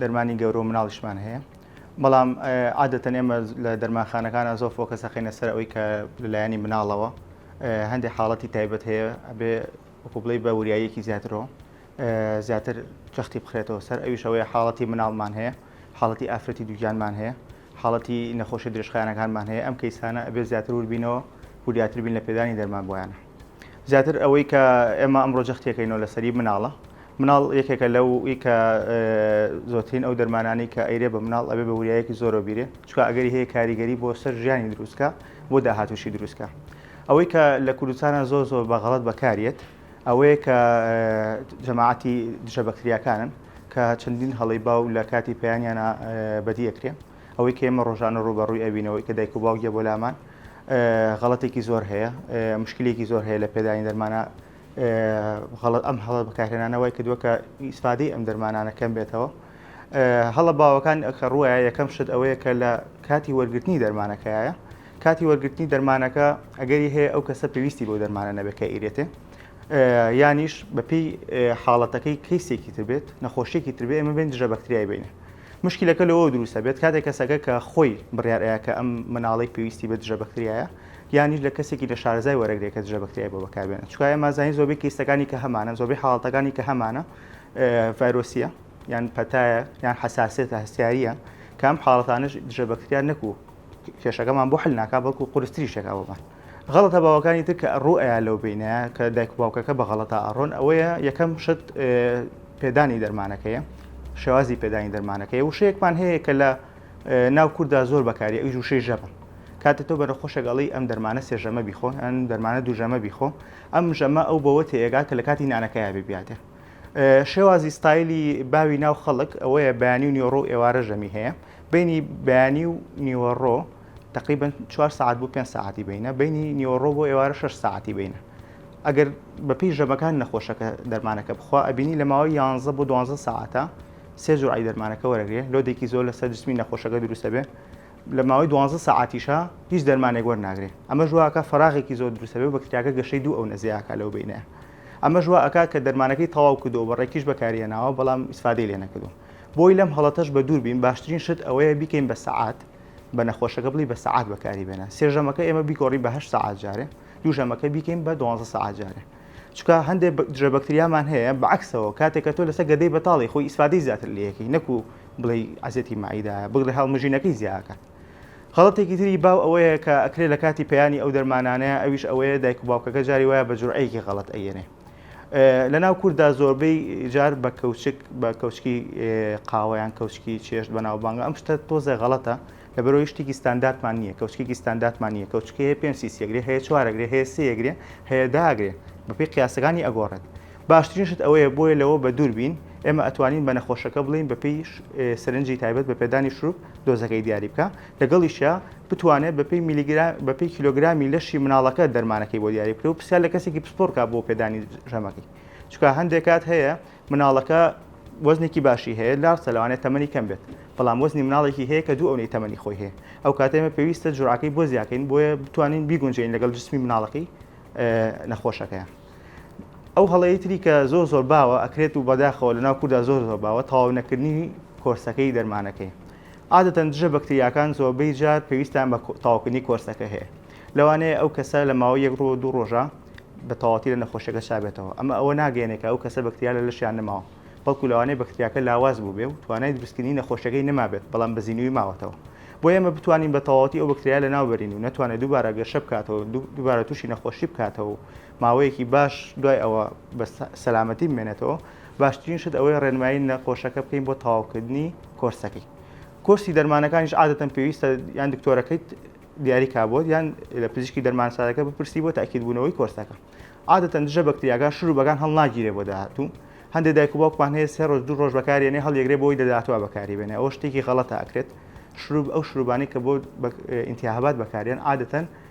دەرمانی گەورە و مناڵیشمان هەیە بەڵام عادەتەن ئێمە لە دەرمانخانەکانە زۆر فۆکە سەخینە سەر ئەوی کە لەلایەنی مناڵەوە هەندێک حاڵەتی تایبەت هەیە ئەبێ وکوبڵی بە وریاییەکی زیاترەوە زیاتر جەختی بخرێتەوە سەر ئەویش ئەوەیە حاڵەتی مناڵمان هەیە حاڵەتی ئافرەتی دووگیانمان هەیە حاڵەتی نەخۆشی درێژخانەکانمان هەیە ئەم کەیسانە ئەبێ زیاتر وربینەوە وریاتر بین لە پێدانی دەرمان بۆیانە زیاتر ئەوەی کە ئێمە ئەمڕۆ جەختیەکەینەوە لەسەری مناڵە مناڵ یەکێکە لەو کە زۆترین ئەو دەرمانانی کە ئەیرێ بە مناڵ ئەبێ بە وریایەکی زۆرە بیرێ چکە ئەگەری هەیە کاریگەری بۆ سەر ژیانی دروستکە بۆ داهاتوشی دروستکە ئەوەی کە لە کوردستانە زۆر زۆر بە غەڵت بەکارێت ئەوەیە کە جەماعەتی دژە بەکتریاکانن کە چەندین هەڵی باو لە کاتی پەیانیانە بەدیەکرێن ئەوەی کە ئێمە ڕۆژانە ڕوبەڕووی ئەوینەوەی کە دایک و باوگیە بۆ لامان غەڵەتێکی زۆر هەیە مشکلێکی زۆر هەیە لە پێدانی دەرمانە غەڵت ئەم هەڵە بەکارهێنانەوەی کردووە کە ئیسفادەی ئەم دەرمانانە کەم بێتەوە هەڵە باوەکان ئەکە ڕووە یەکەم شت ئەوەیە کە لە کاتی وەرگرتنی دەرمانەکەیە کاتی وەرگرتنی دەرمانەکە ئەگەری هەیە ئەو کەسە پێویستی بۆ دەرمانە نەبێکە ئیرێتێ یانیش بەپی حاڵەتەکەی کەیسێکی تربێت نەخۆشیێکی تربێ ئمە بێن دژە بەکتریای بینە موشکیلەکە لەوەوە دروست ئەبێت کاتێک کەسەکە کە خۆی بڕیار ئەیا کە ئەم مناڵەی پێویستی بە دژە بەکتریایە یانیش لە کەسێکی نە شارەزای وەرەگرێ کە دژە بەکتریای بۆ بەکار بێنێ چونکا ئێمە زانین زۆربەی کەیسەکانی کە هەمانە زۆربەی حاڵەتەکانی کە هەمانە ڤایرۆسیە یان پەتایە یان حەساسێتە هەستیاریە کە ئەم حاڵەتانەش دژە بەکتریا نەکوو کێشەکەمان بۆ حل ناکا بەڵکو قورستریشێکا بۆمان غەڵەتە باوەکانی تر کە ڕوو ئەیا لەو بینایە کە دایک و باوکەکە بە غەڵەتا ئەڕۆن ئەوەیە یەکەم شت پێدانی دەرمانەکەیە شێوازی پێدانی دەرمانەکەی وشەیەکمان هەیە کە لە ناو کووردا زۆر بەکاری ئەوی وشەی ژەمە کاتە تۆ بەرە خۆشەگەڵی ئەم دەرمانە سێژەمە بیخۆ ئەن دەرمانە دوژەمە بیخۆ ئەم ژەمە ئەو بەوە تێگا کە لە کاتی نانەکەیا ببیاتێ شێوازی ستایلی باوی ناو خەڵک ئەوەیە بەیانی و نیۆڕۆ ئێوارە ژەمی هەیە بینی بەیانی و نیوەڕۆ تەقریبەن چوار سەعات بۆ پێنج سەعاتی بینە بینی نیوەڕۆ بۆ ئێوارە شەش سەعاتی بینە ئەگەر بەپی ژەمەکان نەخۆشەکە دەرمانەکە بخوا ئەبینی لە ماوەی یانزە بۆ دوانزە سەعاتە سێ جوعی دەرمانەکە وەرەگرێ لۆدێکی زۆر لەسەر جسمی نەخۆشەکە دروستە بێ لە ماوەی دوانزە سەعاتیشە هیچ دەرمانێک وەرناگرێ ئەمە ژواکە فراغێکی زۆر دروستە بێ بەکتریاکە گەشەی دوو ئەو نەزیاکە لەو بینە ئەمە ژوا ئەکا کە دەرمانەکەی تەواو کردو بە ڕێکیش بەکاریە ناوە بەڵام ئیسفادەی لێ نەکردو بۆی لەم هەڵەتەش بە دوور بین باشترین شت ئەوەیە بیکەین بە سەعات بە نەخۆشەکە بڵی بە سەعات بەکاری بێنە سێژەمەکە ئێمە بیگۆڕی بە هەشت سەعات جارێ دووژەمەکە بیکەین بە دوازە سەعات جارێ چکە هەندێک دژە بەکتریامان هەیە بەعکسەوە کاتێکە تۆ لەسەر گەدەی بەتاڵی خۆی ئیسفادەی زیاتر لەکەی نەکو بڵێ عزیەتی مایدا بگرە هەڵمژینەکەی زیاکات خەڵەتێکی تری باو ئەوەیە کە ئەکرێ لە کاتی پەیانی ئەو دەرمانانەیە ئەویش ئەوەیە دایک و باوکەکە جاری وایە بە جورعەیەکی غەڵەت ئەیەنێ لە ناو کورددا زۆربەی جار بە کەوچک بە کەوچکی قاوەیان کەوچکی چێشت بە ناوبانگە ئەم شتە تۆزە غەڵەتە لە بەرەوەی شتێکی ستاندارتمان نییە کەوچکێکی ستاندارتمان نییە کەوچکی هەیە پێنج سیسیەگرێ هەیە چوارەگرێ هەیە سێگرێ هەیە داگرێ بەپی قیاسەکانی ئەگۆڕێت باشترین شت ئەوەیە بۆیە لەوە بە دوور بین ئێمە ئەتوانین بە نەخۆشەکە بڵین بەپی سرنجی تایبەت بە پێدانی شروپ دۆزەکەی دیاری بکە لەگەڵیشیا بتوانێت بەپێی میلیگرا بەپێی کیلۆگرامی لەشی مناڵەکە دەرمانەکەی بۆ دیاری بکرێت و پرسیار لە کەسێکی پسپۆڕ کا بۆ پێدانی ژەمەکەی چکە هەندێک کات هەیە مناڵەکە وەزنێکی باشی هەیە لارسە لەوانێت تەمەنی کەم بێت بەڵام وەزنی مناڵێکی هەیە کە دوو ئەونەی تەمەنی خۆی هەیە ئەو کاتێمە پێویستە جوراکەی بۆ زیاکەین بۆیە بتوانین بیگونجین لەگەڵ جسمی مناڵەکەی نەخۆشەکەیان ئەو هەڵەیە تری کە زۆر زۆر باوە ئەکرێت و بەداخەوە لەناو کووردا زۆر زۆر باوە تەواو نەکردنی کۆرسەکەی دەرمانەکەی عادەتەن دژە بەکتریاکان زۆربەی جار پێویستیان بە تەواوکردنی کۆرسەکە هەیە، لەوانەیە ئەو کەسە لە ماوەی یەک ڕۆ دوو ڕۆژە بە تەواوەتی لە نەخۆشیەکە چابێتەوە، ئەمە ئەوە ناگەیەنێ کە ئەو کەسە بەکتریا لە لەشیان نەماوە، بەڵکو لەوانەیە بەکتریاکە لاواز بووبێ و توانای دروستکردنی نەخۆشیەکەی نەمابێت بەڵام بە زینووی ماوەتەوە بۆ ئێمە بتوانین بە تەواوەتی ئەو بەکتریایە لەناوبەرین و نەتوانێت دووبارە گەشە بکاتەوە و دووبارە تووشی نەخۆشی بکاتەوە و ماوەیەکی باش دوای ئەوە بە سەلامەتی بمێنێتەوە، باشترین شت ئەوەیە ڕێنمایی نەخۆشەکە بکەین بۆ تەواوکردنی کۆرسەکەی. کۆرسی دەرمانەکانیش عادەتەن پێویستە یان دکتۆرەکەیت دیاری کا بۆت یان لە پزیشکی دەرمانسازەکە بپرسی بۆ تاکیدبوونەوەی کۆرسەکە. عادەتەن دژە بەکتریاکان شروبەکان هەڵناگیرێ بۆ داهاتوو، هەندێ دایک و باوکمان هەیە سێ ڕۆژ دوو ڕۆژ بەکاریێنێ هەڵیەگرێ بۆی لە داهاتوا بەکاری بێنێ ئەوە شتێکی غەڵەتە ئەکرێت شروب ئەو شروبانەی کە بۆ ئینتیاهبات بەکاریێن عادەتەن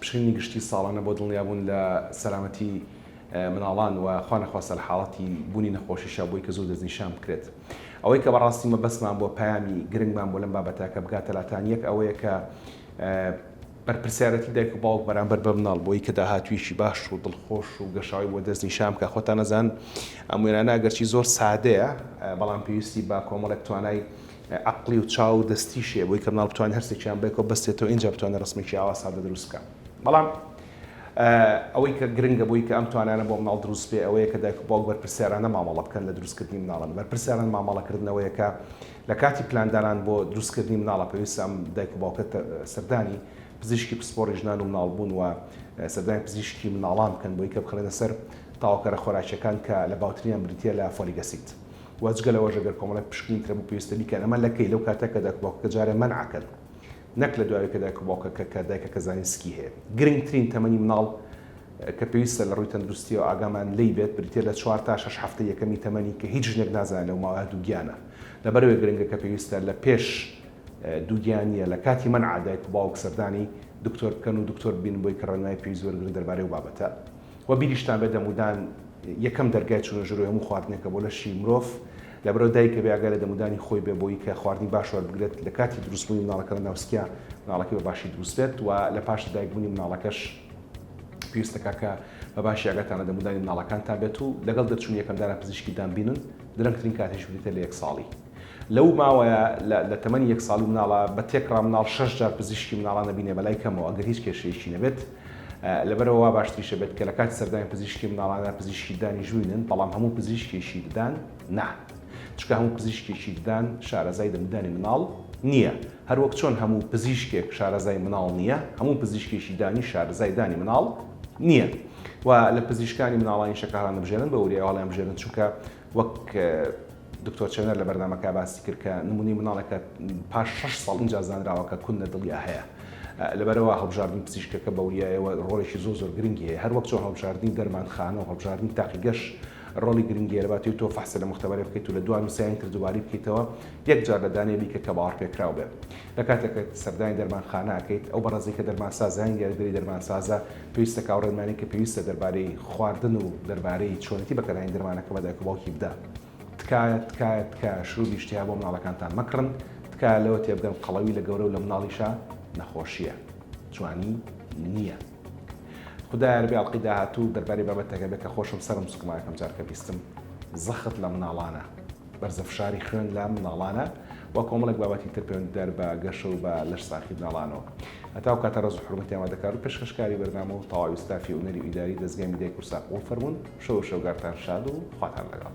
پشکنینی گشتی ساڵانە بۆ دڵنیابوون لە سەلامەتی مناڵان و خوا نەخواستە لە حاڵەتی بوونی نەخۆشی شابووی کە زوو دەستنیشان بکرێت ئەوەی کە بەڕاستی مەبەستمان بۆ پەیامی گرنگمان بۆ لەم بابەتە کە بگاتە لاتان یەک ئەوەیە کە بەرپرسیارەتی دایک و باوک بەرامبەر بە مناڵ بۆی کە داهاتویەکی باش و دڵخۆش و گەشاوی بۆ دەست نیشان بکە خۆتان نەزان ئەم وێنانە گەرچی زۆر سادەیە بەڵام پێویستی بە کۆمەڵێک توانای عەقڵی و چاو و دەستیش هەیە بۆی کە مناڵ بتوانێت هەرسێکیان بەیەکەوە بەستێتەوە ئینجا بتوانێت ڕەسمێکی ئاوا سادە دروست بکات بەڵام ئەوەی کە گرنگە بۆی کە ئەم توانانە بۆ مناڵ دروست بێ ئەوەیە کە دایک و باوک بەرپرسیارانە مامەڵە بکەن لە دروستکردنی مناڵن بەرپرسیاران مامەڵەکردنەوەیە کە لە کاتی پلاندانان بۆ دروستکردنی مناڵە پێویستە ئەم دایک و باوکە سەردانی پزیشکی پسپۆڕی ژنان و مناڵ بوون و سەردانی پزیشکی مناڵان بکەن بۆی کە بخرێنە سەر تاوەکەرە خۆراکیەکان کە لە باوتریان بریتیە لە فۆلیگەسید وە جگە لەوەش ئەگەر کۆمەڵێک پشکنین ترە بوو پێویستە بیکەن ئەمە لە کەی لەو کاتە کە دایک و باوکەکە جارێ مەنعەکەن نەک لە دواوەی کە دایک و باوکەکە کە دایکەکە زانین سکی هەیە گرنگترین تەمەنی مناڵ کە پێویستە لە ڕووی تەندروستیەوە ئاگامان لی بێت بریتە لە چوار تا شش هەفتە یەکەمی تەمەنی کە هیچ ژنێک نازانێت لەو ماوەیە دووگیانە لەبەرەوەی گرنگە کە پێویستە لە پێش دووگیانیە لە کاتی مەنع دایک و باوک سەردانی دکتۆر بکەن و دکتۆر ببینن بۆی کە ڕێنمایی پێویست وەرگرن دەربارەی ئەو بابەتە وە بیریشتان بێت دەمودان یەکەم دەرگای چونە ژوری هەموو خواردنێکە بۆ لەشی مرۆڤ لەبەرئەوە دایکە بێ ئاگا لە دەمودانی خۆی بێ بۆی کە خواردنی باش وەربگرێت لە کاتی دروست بوونی مناڵەکە لە ناو سکیا مناڵەکەی بە باشی دروست بێت وە لە پاش لە دایک بوونی مناڵەکەش پێویستە کاکە بە باشی ئاگاتان لە دەمودانی مناڵەکانتان بێت و لەگەڵ دەرچوونی یەکەم دانا پزیشکی دان بینن درەنگترین کاتیش بریتە لە یەک ساڵی. لەو ماوەیە لە لە تەمەنی یەک ساڵی مناڵە بە تێکڕا مناڵ شەش جار پزیشکی مناڵان ئەبینێ بە لای کەمەوە ئەگەر هیچ کێشەیەکی نەبێت لەبەرئەوە وا باشتریش ئەبێت کە لە کاتی سەردانی پزیشکی مناڵانە پزیشکی ددانیش ببینن بەڵام هەموو پزیشکێکی ددان نا چونکە هەموو پزیشکێکی ددان شارەزای دەمدانی مناڵ نییە هەروەک چۆن هەموو پزیشکێک شارەزای مناڵ نییە هەموو پزیشکێکی دانی شارەزای دانی مناڵ نییە و لە پزیشکانی مناڵانیشە کە هەڵیانبژێرن بە وریایەوە هەڵیانبژێرن چونکە وەک دکتۆر چێنەر لە بەرنامەکە باسی کرد کە نمونەی مناڵێکە پاش شەش ساڵ ئینجا زانراوە کە کون لە دڵیا هەیە لەبەرەوە هەڵبژاردنی پزیشکەکە بە وریایەوە ڕۆڵێکی زۆر زۆر گرنگی هەیە هەروەک چۆن هەڵبژاردنی دەرمانخانە و هەڵبژاردنی تاقیگەش ڕۆڵی گرنگی لەباتی تۆ فەحسە لە مختبەرێ بکەیت و لە دوان و سیان کردواری بکەیتەوە یەک جار لە دانێ بیکە کە باوەڕ پێکراو بێت لە کاتێکە سەردانی دەرمانخانە ئەکەیت ئەو بەڕێزەی کە دەرمانسازانی دیاریدەری دەرمانسازە پێویستە کە ئەو ڕێنمانەی کە پێویستە دەربارەی خواردن و دەربارەی چۆنێتی بەکارهێنانی دەرمانەکە بە دایک و باوکی بدا. تکایە تکایە تکایە شروبی شتیها بۆ مناڵەکانتان مەکڕن تکایە لەوە تێبگەن قەڵەوی لە گەورە و لە مناڵیشا نەخۆشیە جوانی نیە خودایە ربی ئەڵقەی داهاتوو دەربارەی بابەتەکە بێ کە خۆشم سەرم سوکمایەکەم جار کە بیستم زەخت لە مناڵانە. بەرزە فشاری خوێن لە منداڵانە و کۆمەڵێک بابەتی تر پەیوەندیدار بە گەشە و بە لەش ساخی مناڵانەوە هەتاو کاتە ڕز و حرمەتی ئامادەکار و پێشکەشکاری بەرنامە و تەواوی ستافی ئونەری و ئیداری دەستگای میدای کورسا قوڵ فەرمونون شەو و شەوگارتان شاد و خواتان لەگەڵ